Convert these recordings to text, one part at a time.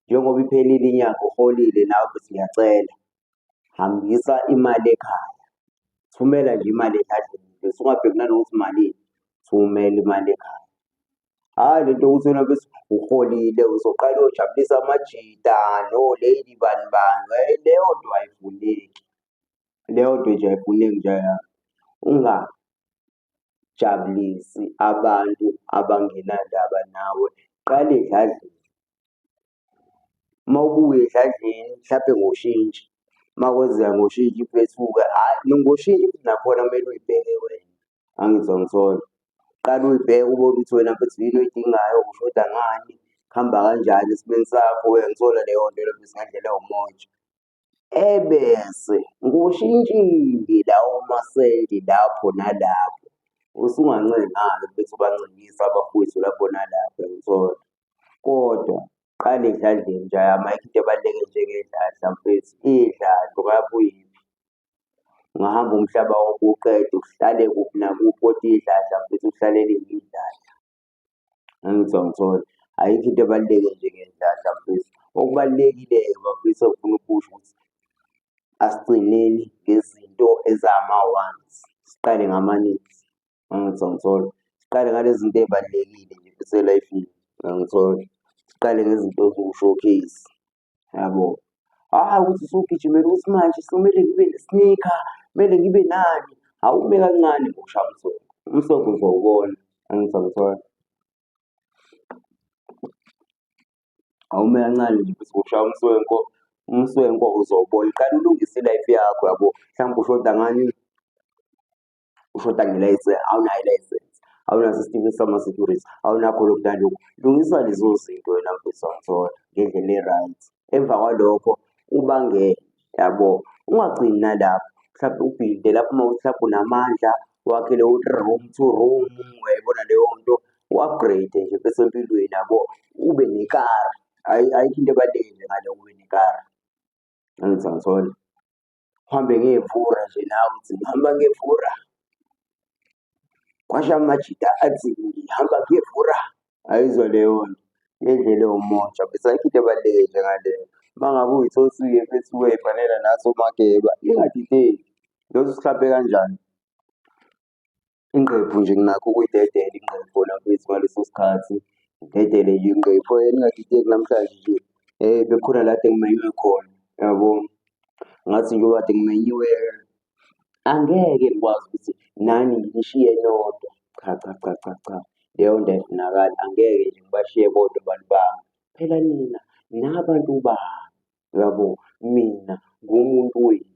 njengoba iphelile inyanga uholile nawe futhi ngiyacela hambisa imali ekhaya thumela nje imali ekadleni bese ungabheki nanokuthi malini thumela imali ekhaya hhayi le nto ukuthi wena bese uholile uzoqala uyojabulisa amajita no-lady bani bani hhayi leyo nto ayifuneki leyo nto nje ayifuneki nje unga jabulisi abantu abangenandaba nawe qale edladleni uma ubuye edladleni mhlampe ngoshintshi uma kwenzeka ngoshintshi iphethuke hhayi ngoshintshi futhi nakhona kumele uyibheke wena angizwa ngisona qala uyibheke ubone ukuthi wena mfethu yini oyidingayo ushoda ngani kuhamba kanjani esimeni sakho uyangisola leyo nto leyo nto singadlela umoja ebese ngushintshile lawo masenti lapho nalapho, usungancenga-ke ukuthi ubancengise abafowethu lapho nalapho uyangithola. Kodwa qala edladleni nje ayikho into ebaluleke njengedladla mfethu, idladla ungabe uyiphi, ungahamba umhlaba wonke uwuqede kuhlale kuphi nakuphi kodwa idladla mfethu kuhlale liyidladla. Ngangizwa ngithole ayikho into ebaluleke njengendlala mfethu. Okubalulekile-ke bafethu engifuna ukusho ukuthi asigcineni ngezinto ezama-ones, siqale ngama-needs. Ngangizwa ngithole siqale ngale zinto ey'balulekile nje futhi e-life-ini, ngangithole siqale ngezinto eziwu-showcase. yabo hayi ukuthi sugijimela ukuthi manje somele ngibe nesnika kumele ngibe nani awume kancane ngokushaya umsoco umsoco uzowubona angizakuthola awume kancane nje ukuthi ngokushaya umswenko umswenko uzowubona qala ulungise ilife yakho yabo mhlawumbe ushoda ngani ushoda ngelayisensi awunayo ilayisensi awunaso isitifiketi sama-security awunakho lokhu nalokhu lungisa lezo zinto wena mfethu wangithola ngendlela e-right emva kwalokho ubangele yabo ungagcini nalapho mhlawumbe ubhilde lapho uma uthi mhlawumbe unamandla wakhele u-room to room uyayibona leyo nto u-upgrade nje bese empilweni yabo ube nekara ayikho into ebalulekile ngale ube nekara angithangithole uhambe ngevura nje nawe uthi ngihamba ngevura kwasha amajita athi ngihamba ngevura ayizwa leyo nto ngendlela ewumoja bese ayikho into ebaluleke njengaleyo uma ngabe uyithosile bese uyoyifanela naso mageba ingadideki lothi usihlaphe kanjani Ingqephu nje nginakho ukuyidedela ingqephu nakwethu ngaleso sikhathi ngidedele nje ingqephu eningadideki namhlanje nje bekhona la kade ngimenywe khona yabo. Ngathi njengoba kade ngimenyiwe angeke ngikwazi ukuthi nani nginishiye nodwa, cha cha cha cha cha leyo nto ayifunakali angeke nje ngibashiye bodwa abantu bami. Phela nina nabantu bami, yabo mina ngumuntu wenu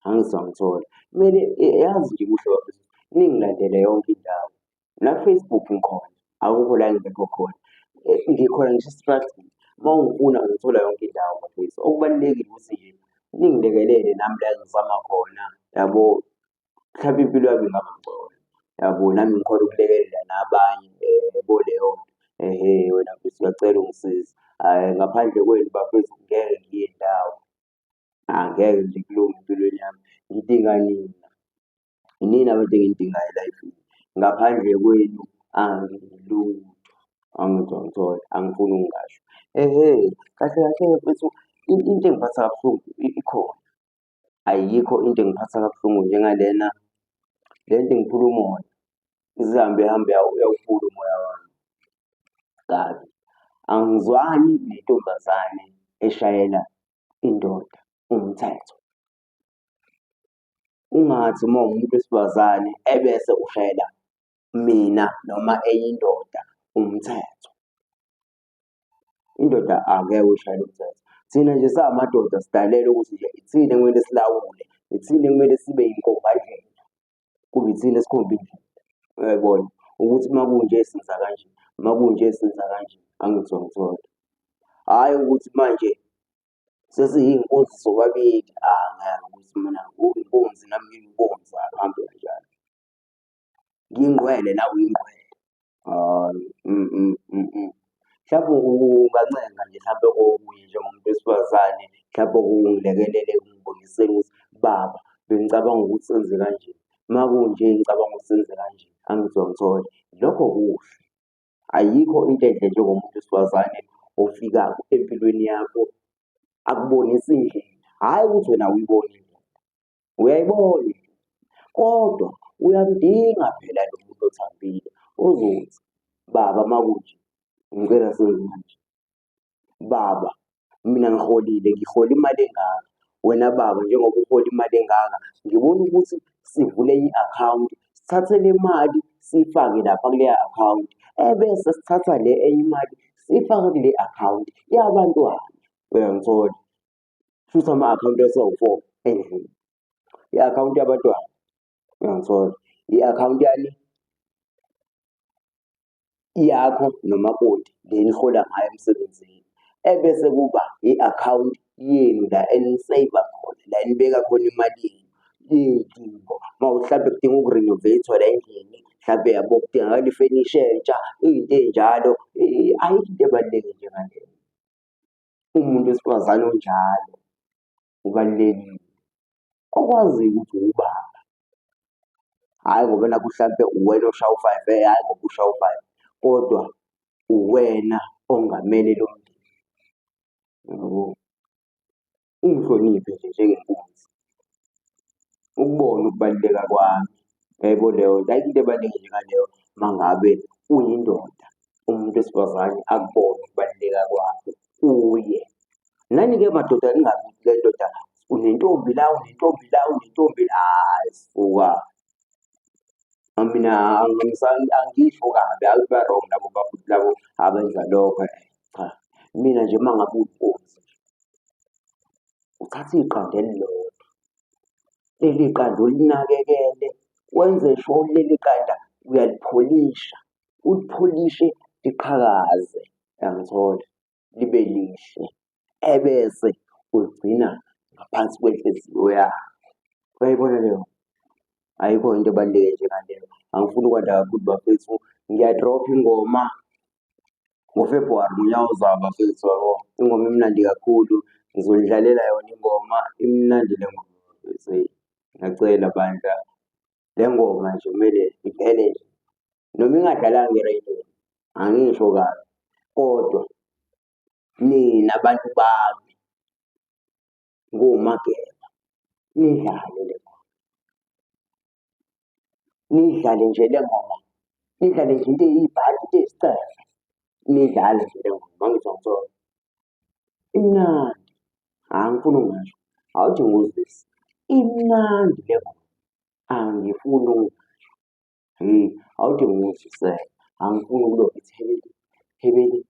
angizangithola kumele yazi nje kuhle bafethu ningilandele yonke indawo nafacebook ngikhona akukho la ngingekho khona eh, ngikhona ngisho estrathini uma ungifuna ngithola yonke indawo bafethu okubalulekile ukuthi nje ningilekelele nami la ngizama khona yabo mhlawumbe impilo yami ingaba ngcono yabo nami ngikhona ukulekelela nabanye um kuleyo ehe wena mfethu ngiyacela ungisize um ngaphandle kwenu bafethu ngeke ngiye ndawo angeke nje kulunge empilweni yami ngidinga nina inini abantu engiyidingayo elifini ngaphandle kwenu angilutho angitho ngithole angifuni ukungasho ehe kahle kahle mfethu into engiphatha kabuhlungu ikhona ayikho into engiphatha kabuhlungu njengalena le nto ingiphula umoya izihambe ihambe uyawuphula umoya wami kabi angizwani nentombazane eshayela indoda umthetho ungathi uma umuntu wesifazane ebese ushayela mina noma eyindoda umthetho indoda angeke ushayele umthetho thina nje samadoda sidalele ukuthi nje ithina kumele silawule ithina kumele sibe yinkombandlela kube ithina esikhomba indlela uyayibona ukuthi uma kunje senza kanje uma kunje senza kanje angithi wangithola hhayi ukuthi manje sesiyinkunzi sobabili angeke ukuthi mina uyinkunzi nami ngiyinkunzi akuhambe kanjalo Ngiyingqwele nawe uyingqwele. Hayi, mm, mm, mm, mm. Mhlawumbe ungancenga nje mhlawumbe kokunye njengomuntu wesifazane, mhlawumbe ungilekelele ungiboniseni ukuthi baba bengicabanga ukuthi senze kanje, uma kunje ngicabanga ukuthi senze kanje, angithi uyangithola. Lokho kuhle. Ayikho into enhle njengomuntu wesifazane ofikako empilweni yakho akubonise indlela, hhayi ukuthi wena awuyiboni indlela, Uyayibona kodwa uyamdinga phela lo muntu othambile ozothi baba makunje ngicela senze kanje baba mina ngiholile ngihola imali engaka wena baba njengoba uhola imali engaka ngibona ukuthi sivule i-akhawunti sithathe le mali siyifake lapha kuleya akhawunti ebese sithatha le enye imali siyifake kule akhawunti yabantwana uyangithola futhi ama-akhawunti esiwu-four endlini i-akhawunti yabantwana uyangithola i-akhawunti yani yakho nomakoti le nihola ngayo emsebenzini ebese kuba i-akhawunti yenu la eniseyiva khona la enibeka khona imali yenu iy'dingo uma mhlawumbe kudinga ukurinovathwa la endlini mhlawumbe yabo kudingakala ifenisha entsha iy'nto ey'njalo ayikho into ebaluleke njengaleyo umuntu wesifazane onjalo ubalulekile okwaziyo ukuthi ubaba hhayi ngoba nakho mhlampe uwena oshaya u-five eh hhayi ngoba ushaya u-five kodwa uwena ongamele lo mndeni yabo ungihloniphe nje njengenkunzi ukubona ukubaluleka kwami. Yaybo leyo nto ayikho into ebaluleke njengaleyo uma ngabe uyindoda umuntu wesifazane akubone ukubaluleka kwakho kuye. Nani-ke madoda ningabi le ndoda unentombi la unentombi la unentombi la hhayi suka. Mina angisho kabi hhayi ba-wrong labo bafowethu labo abenza lokho cha. Mina nje uma ngabe uyinkunzi. uthathe iqanda elilodwa leli qanda ulinakekele wenze sho leli qanda uyalipholisha ulipholishe liqhakaze yangithola libe lihle ebese uligcina ngaphansi kwenhliziyo yakho uyayibona leyo ayikho into ebaluleke njengaleyo angifuni ukwanda kakhulu bafethu ngiyadropha ingoma NgoFebhuwari ngonyaka ozayo bafethu yabo. Ingoma imnandi kakhulu. Ngizonidlalela yona ingoma imnandi le ngoma bafethu. Eyi, ngiyacela bandla. Le ngoma nje kumele iphele nje. Noma ingadlalanga ereydweni, angisho kabi. Kodwa nina bantu bami nguMageba nidlale le ngoma. nidlale nje le ngoma nidlale nje into eyibhadi into eyicefe nidlale nje le ngoma ngizwa ngizona imnandi hayi ngifuna ungasho awuthi nguzisi imnandi le ngoma angifuni ungasho hey awuthi nguzisele angifuni ukuloku ithi hebele hebele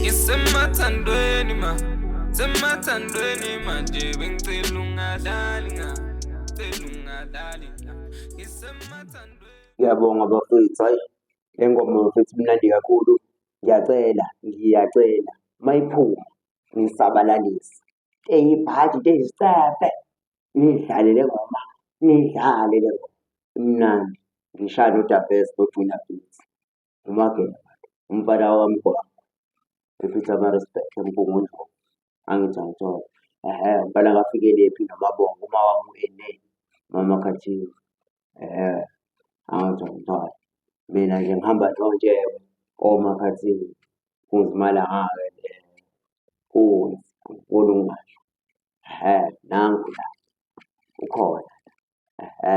Ngisemathandweni ma Semathandweni manje bengicela ungadlali nga Cela ungadlali nga Ngisemathandweni Ngiyabonga bafethu hayi le ngoma bafethu imnandi kakhulu ngiyacela ngiyacela mayiphuma ngisabalalise eyibhadi tezicefe nidlale le ngoma nidlale le ngoma imnandi ngishaya nodabes nojuna beats uMageba umfana wakamgwaqo ePietermaritzburg eMgungundlovu angithi angithole ehe umfana kaFikelephi noMabongo uma wamu-ene mama Khathiwe ehe angithi angithole mina nje ngihamba nonjeko omakhathini kuzimala ngake kuze ngifuna ukungasho ehe nangu la ukhona ehe